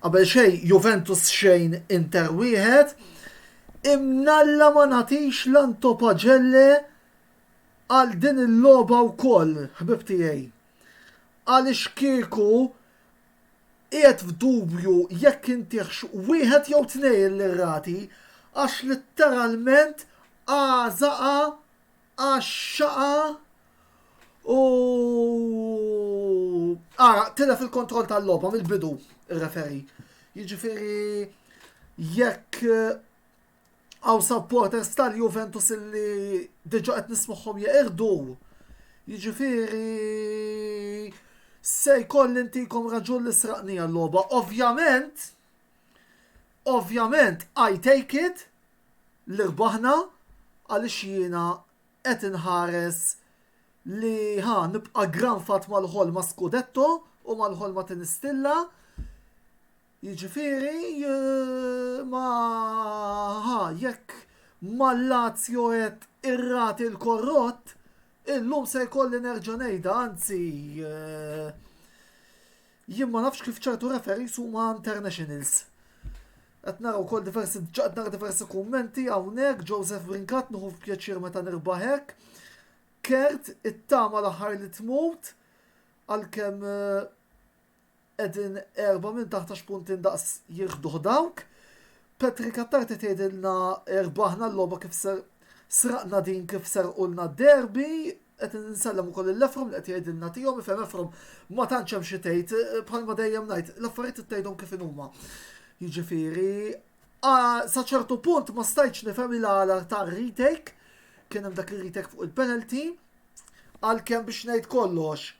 Qabel xejn Juventus xejn Inter wieħed, imnalla ma nagħtix l-Anto Pagelle għal din il-logħba wkoll ħbib tiegħi. Għaliex kieku qiegħed f'dubju jekk intihx wieħed jew tnejn l-irrati għax litteralment għażaqha għax-xaqa u ara tilef il-kontroll tal-logħba mill-bidu ir-referi. Jiġifieri jekk għaw supporters tal-Juventus illi diġa qed nismuħhom jeqirdu. Jiġifieri se jkoll intikom raġun li sraqni għal-logħba. Ovvjament, Ovvjament I take it li rbaħna għaliex jiena qed inħares li ha nibqa' granfat mal-ħolma scudetto u mal-ħolma tinistilla, jiġifieri ma ha jekk mal-Lazio qed irrati l-korrott, illum se jkolli nerġa' ngħidha anzi Jien ma nafx kif ċertu referees huma internationals. Qed nara wkoll diversi qed nara diversi kummenti hawnhekk Joseph Brincat nieħu pjaċir meta nirbaħ hekk. Kert it-tama l-aħħar li tmut għalkemm qegħdin eh, erba' minn taħt għax punti ndaqs jirħduh dawk. Patrick Attarti tgħidilna erbaħna l-logħba kif ser sraqna din kif serqulna d-derby qed nsellem ukoll il-lefrom li qed jgħidilna tihom ifhem efrom ma tantx hemm xi tgħid eh, bħalma dejjem ngħid l-affarijiet ittgħidhom kif inhuma. Jiġifieri sa ċertu punt ma stajtx nifhem il għala ta' retake kien hemm dak ir-retake fuq il-penalty għalkemm biex ngħid kollox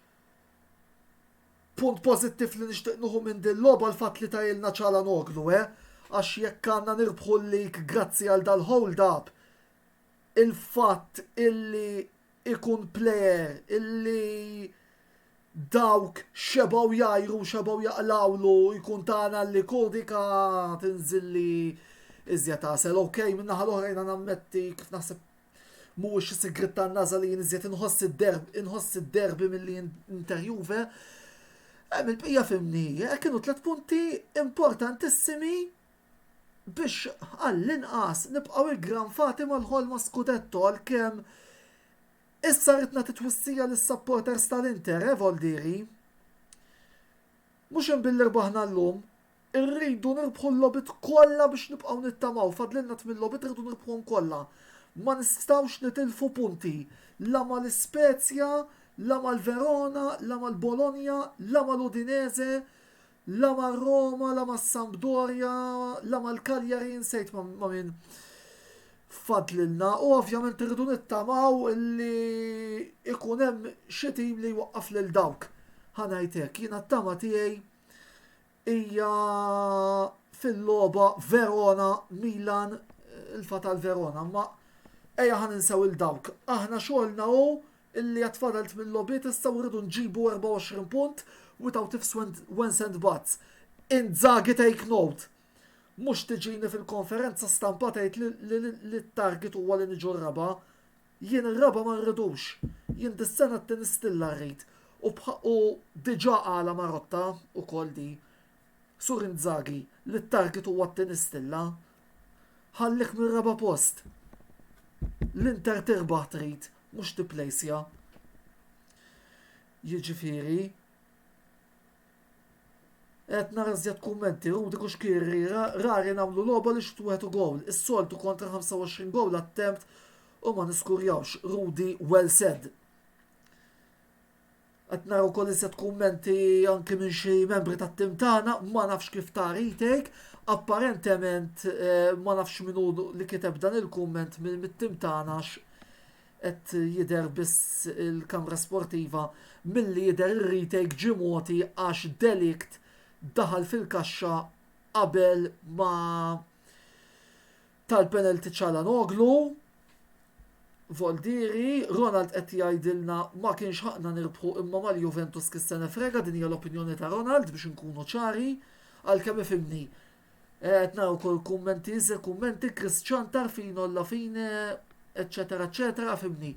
punt pozittiv li nixtieq nuħu minn din logħba l-fatt li tajilna ċala noglu, eh? Għax jekk għandna nirbħu l-lik grazzi għal dal-hold up, il-fatt illi jkun plejer illi dawk xebgħu jgħajru u xebgħu jaqlgħulu jkun ta' għan għal Licou dik tinżilli iżjed għasel. Ok, min-naħa l-oħra jiena nammetti kif naħseb mhuwiex xi sigriet tan-nagħża li jien iżjed inħoss id-derby inħoss id-derby milli Inter Juve. Hemm il-bqija fimni, kienu tliet punti importantissimi biex għall-inqas nibqgħu iggranfati mal-ħolma scudetto għalkemm issa rrid nagħti twissija lis-supporters tal-Inter, Evaldi Ri. Mhux hemm billi rbaħna llum, irridu nirbħu l-logħbiet kollha biex nibqgħu nittamaw, fadlilna tmien logħbiet irridu nirbħuhom kollha. Ma nistgħux nitilfu punti la mal-Ispezja, la mal-Verona, la mal-Bologna, la mal-Udinese, La mar-Roma, la mas-Sampdoria, la mal-Cagliari, nsejt ma' min fadlilna u ovvjament irridu nittamaw li ikun hemm xi tim li jwaqqaf lil dawk. Ħanajt hekk, jiena t-tama tiegħi hija fil-logħba Verona Milan il-fatal Verona, ma ejja ħan insew il-dawk. Aħna xogħolna hu illi għad fadal tmien logħbiet issa u rridu nġibu 24 punt without ifs wens and buts. Inzaghi take note! Mhux tiġini fil-konferenza stampa tgħid li t-target huwa li niġu r-raba'. Jien ir-raba' ma rridux. Jien dis-sena t-tieni stilla rrid. U diġà qalha Marotta wkoll di. Sur Inzaghi, li t-target huwa t-tieni stilla, ħalliek mir-raba' post. L-Inter tirbaħ trid, mhux tipplejsja. Jiġifieri, qed nara żjed kummenti, Rudi Kuxkirri, rari nagħmlu logħba li xut wieħed u gowl, is-soltu kontra 25 gowl attempt u ma niskurjawx. Rudi well said. Qed nara wkoll iżjed kummenti anki minn xi membri tat-tim tagħna, ma nafx kif ta' retake, apparentement eh, ma nafx min hu li kiteb dan il-kumment minn mit-tim tagħna għax qed jidher biss il-kamra sportiva milli jidher ir-retake ġie mogħti għax Delikt daħal fil-kaxxa qabel ma Tal-penalty Calhanoglu, Voldieri, Ronald qed jgħidilna ma kienx ħaqqna nirbħu imma mal-Juventus kif se nifrega din hija l-opinjoni ta' Ronald biex inkunu ċari għalkemm ifhimni. Qed nara wkoll kummenti iżda kummenti Chris Ciantar fino alla fine eċċetera eċċetera fimni.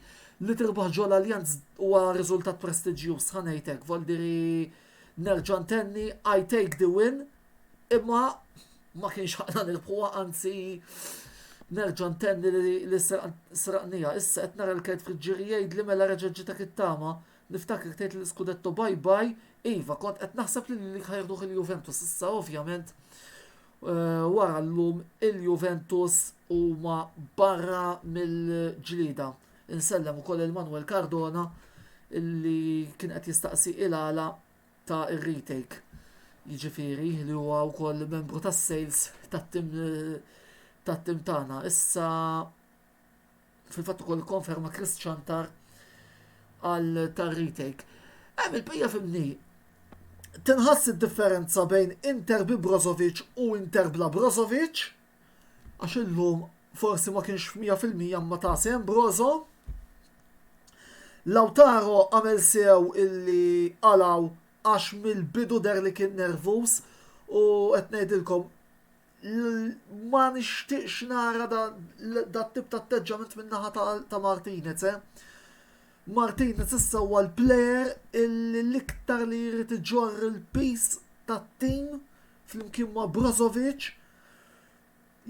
Li tirbaħ ġol l-Allianz huwa riżultat prestiġjuż ħa ngħidlek Voldieri nerġa' ntenni I take the win imma Ma kienx ħaqna nirbħuha anzi nerġa' ntenni li sraqniha. Issa qed nara l-kelb fil-ġiri jgħidli mela reġa' ġietek it-tama. Niftakirek tgħid lill-Scudetto bye bye, iva kont qed naħseb li lilek ħa jieħduh il-Juventus issa ovvjament eh, wara llum il-Juventus huma barra mill-ġlieda. Insellem ukoll il-Manuel Cardona illi kien qed jistaqsi il-għala ta' ir-retake, jiġifieri li huwa wkoll membru tas-sales tat-tim tat-tim tagħna. Issa fil-fatt ukoll konferma Chris Chantar għal tar-retake. Hemm il-bqija fimni. Tinħass id-differenza bejn Inter bi Brozovic u Inter bla Brozovic. għax illum forsi ma kienx f'mija fil-mija ma ta' sehem Brozo. Lautaro għamel sew illi għalaw għax mill-bidu der li kien nervuż u qed ngħidilkom ma nixtieqx nara da tip ta' atteġġament min-naħa ta' Martinez, eh? Martinez issa huwa l-player illi l-iktar li jrid iġorr il-pis tat-tim flimkien ma' Brozovic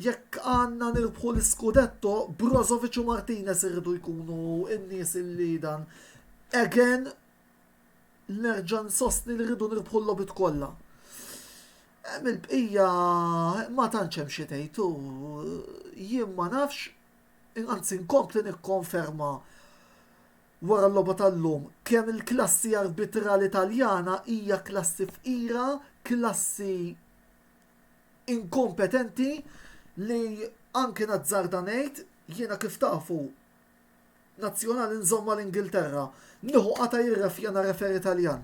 Jekk għandna nirbħu l-iskudetto, Brozovic u Martinez irridu jkunu n-nies li dan. Again, nerġa' nsostni li rridu nirbħu l-logħbiet kollha. Hemm il-bqija ma tantx hemm xi tgħid u jien ma nafx anzi nkompli nikkonferma wara l-logħba tal-lum kemm il-klassi arbitrali Taljana hija klassi fqira, klassi inkompetenti li anki nazzarda ngħid, jiena kif tafu nazzjonali nżomm mal-Ingilterra, nieħu qatgħa jirrefja na referi Taljan.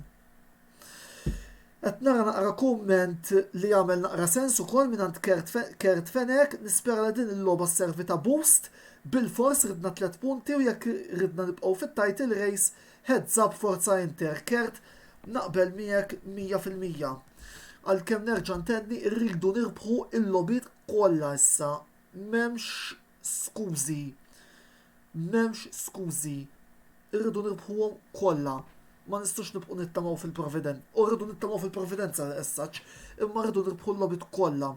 Qed nara naqra kumment li jagħmel naqra sens ukoll mingħand Kurt Fenech, nispera li din il-logħba sservi ta' boost, bilfors ridna tliet punti u jekk ridna nibqgħu fit-title race, Heads up Forza Inter, Kurt naqbel miegħek 100 fil-mija. Għalkemm nerġa' ntenni rridu nirbħu l-logħbiet kollha issa. M'hemmx skużi. M'hemmx skużi. Irridu nirbħuhom kollha. Ma nistgħux nibqgħu nittamaw fil-providenza. U rridu nittamaw fil-providenza l-essaġġ, imma rridu nirbħu l-logħbiet kollha.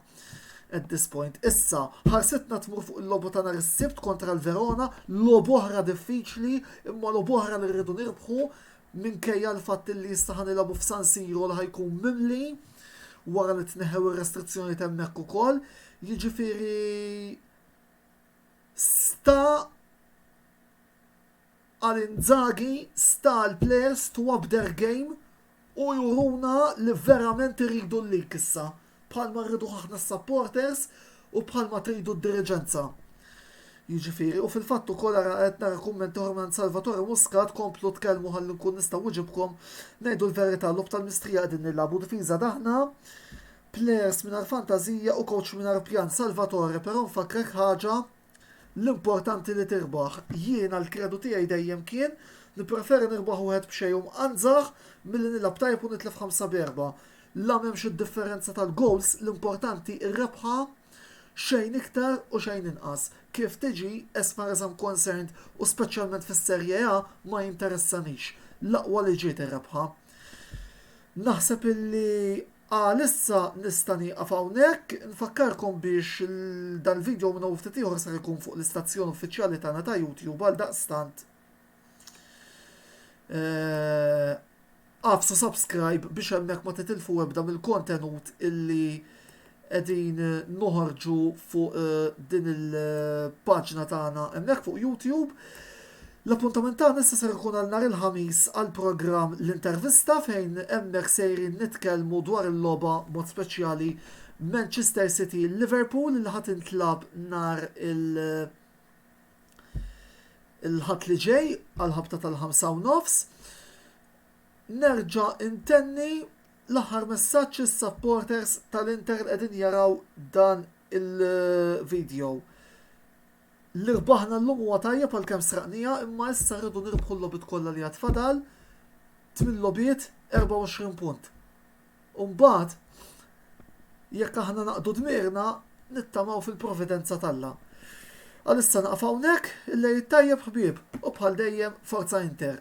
At this point, issa, ħarsitna tmur fuq il-lobu ta' nhar is-Sibt kontra l-Verona, lobu oħra diffiċli, imma lobu oħra li rridu nirbħu minkejja l-fatt li issa ħanilabu f'San Siro li ħajkun mimli wara li tneħew ir-restrizzjoni temmek ukoll. Jiġifieri sta Għal Inzaghi sta l-players to up their game u juruna li verament iridu l-lig issa, bħalma rriduh aħna s-supporters u bħalma tridu d-diriġenza. Jiġifieri, u fil-fatt ukoll ara qed nara kummenti oħra mingħand Salvatore Muscat, komplu tkellmu ħalli nkun nista' wiġibkom, ngħidu l-verità logħob tal-mistrija qegħdin nilagħbu difiża daħna, players mingħajr fantażija u coach mingħajr pjan. Salvatore, però nfakkrek ħaġa, L-importanti li tirbaħ. Jiena l-kredu tiegħi dejjem kien li preferi nirbaħ wieħed b'xejn u mqanżax milli nilgħab tajjeb u nitlef ħamsa b'erbgħa. La m'hemmx id-differenza tal-gowls, l-importanti r-rebħa xejn iktar u xejn inqas. Kif tiġi, as far as I'm concerned, u speċjalment fis-Serie A, ma jinteressanix. L-aqwa li ġiet ir-rebħa. Naħseb illi. Għalissa nista' nieqaf hawnhekk. Nfakkarkom biex dal-video minnu u ftit ieħor ser ikun fuq l-istazzjon uffiċjali tagħna ta' YouTube għaldaqstant għafsu subscribe biex hemmhekk ma titilfu ebda mill-kontenut illi qegħdin noħorġu fuq din il-paġna tagħna hemmhekk fuq YouTube. L-appuntament tagħna issa ser ikun għal nhar il-Ħamis għall-programm L-Intervista fejn hemmhekk sejrin nitkellmu dwar il-logħba b'mod speċjali Manchester City Liverpool li ħa tintlagħab nhar il- il-Ħadd li ġej għall-ħabta tal-ħamsa u nofs. Nerġa' intenni l-aħħar messaġġ is-supporters tal-Inter li qegħdin jaraw dan il-video. Li rbaħna llum huwa tajjeb għalkemm sraqniha imma issa rridu nirbħu l-logħbiet kollha li għad fadal, tmien logħbiet, 24 punt. U mbagħad jekk aħna naqdu dmirna nittamaw fil-providenza t'Alla. Għalissa naqaf hawnhekk, il-Lejl it-Tajjeb ħbieb u bħal dejjem Forza Inter!